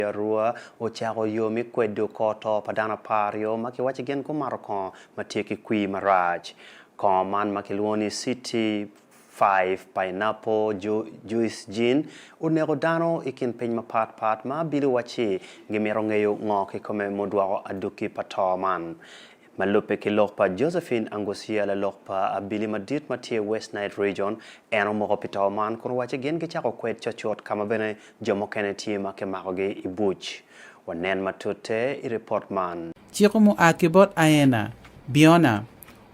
Pi arua, ocako yo me kwedo kor to pa dano aparyo ma kiwacci gin gumato kongo ma tye ki kwir marac. Kongo man ma kilwongo ni City Five, Pineapple, Juice Gin, oneko dano i kin piny mapat pat ma bido wacci gimito ngeyo ngo kikome mudwoko adwoki pa to man. Ma lubbe ki lok pa Josephine Angucia, lalok pa abili madit ma tye i West Nile Region, en omoko pi to man kun owacci gin gicako kwed cocut ka ma bene jo mukene tye ma kimakogi i buc. Wanen matute i ripot man. Ciko mua ki bot Aena, Biona,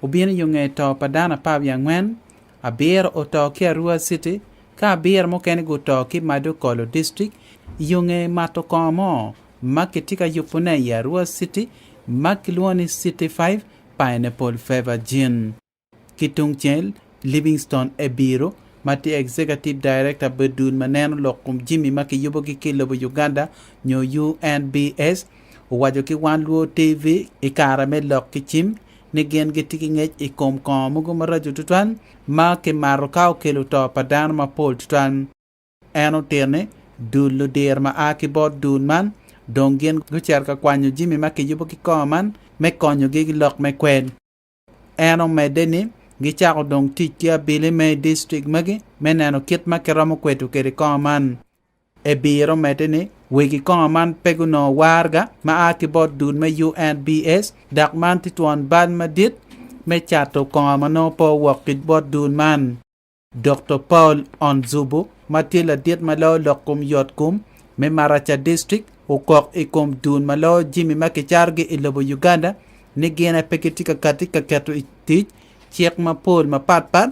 obino yo nge to pa dano apar wiye angwen Abiro oto ki Arua City, ka abiro mukene guto ki Madokolo District, yonge mato kongo mo ma kitye ka yubone i Arua City ma kilwongo ni City Five Pineapple Favour Gin. Ki tungcel, Livingstone Ebiru, ma tye Executive Director pi dul ma neno lok kom jimi ma kiyubogi ki lobo Uganda nyo UNBS, owaco ki Wan Luo TV i kare me lok ki cim, ni gin gitye ki ngec i kom kongo mogo maraco tutwal ma kimato ka okelo to pa dano mapol tutwal. En otito ni, Dul ludir ma a ki bot dul man dong gin gucito ka kwanyo jami ma kiyubo ki kongo man me konyogi ki lok me kwel. En omedde ni, Gicako dong tic ki abili me i distrik magi me neno kit ma kiromo kweto kwede kongo man. Ebiro medde ni, Wegi kongo man pe gunongo warga ma a ki bot dul me UNBS dok man tye twon bal madit me cato kongo ma nongo pe owok ki bot dul man. Dokto Paul Onzubu ma tye ladit ma loyo lok kom yotkom me Maracha District okok i kom dul ma loyo jimi ma kicarogi i lobo Uganda ni gin aye pe gitye ka kati ka keto i tic cik mapol mapatpat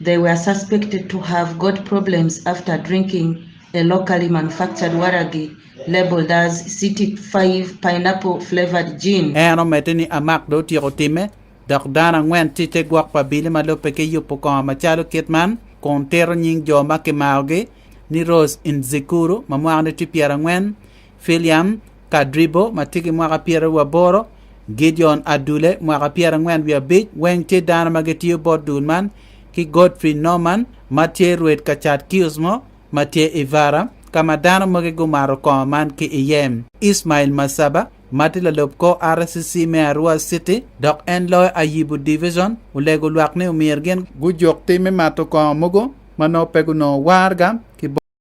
They were suspected to have got problems after drinking a locally manufactured waragi labelled as City Five Pineapple Flavoured Gin. En omedde ni Amak dong otyeko timme, dok dano angwen tye i te gwok pa abili ma lubbe ki yubo kongo macalo kit man kun tito nying jo ma kimakogi ni Rose Nzikuru ma mwakane tye pyerangwen, Filiam Kadribo ma tye ki mwaka pyeraryo wiye aboro, Gideon Adule mwaka pyerangwen wiye abic weng tye dano ma gitiyo bot dul man, ki Godfrey Norman ma tye rwed ka cat kiosk mo ma tye i Vara ka ma dano mogo gumato kongo man ki iye. Ismail Masaba ma tye lalub kor RCC me Arua City dok en loyo Ayibu Division olego lwak ni omyero gin gujuk tim me mato kongo mogo ma nongo pe gunongo waraga ki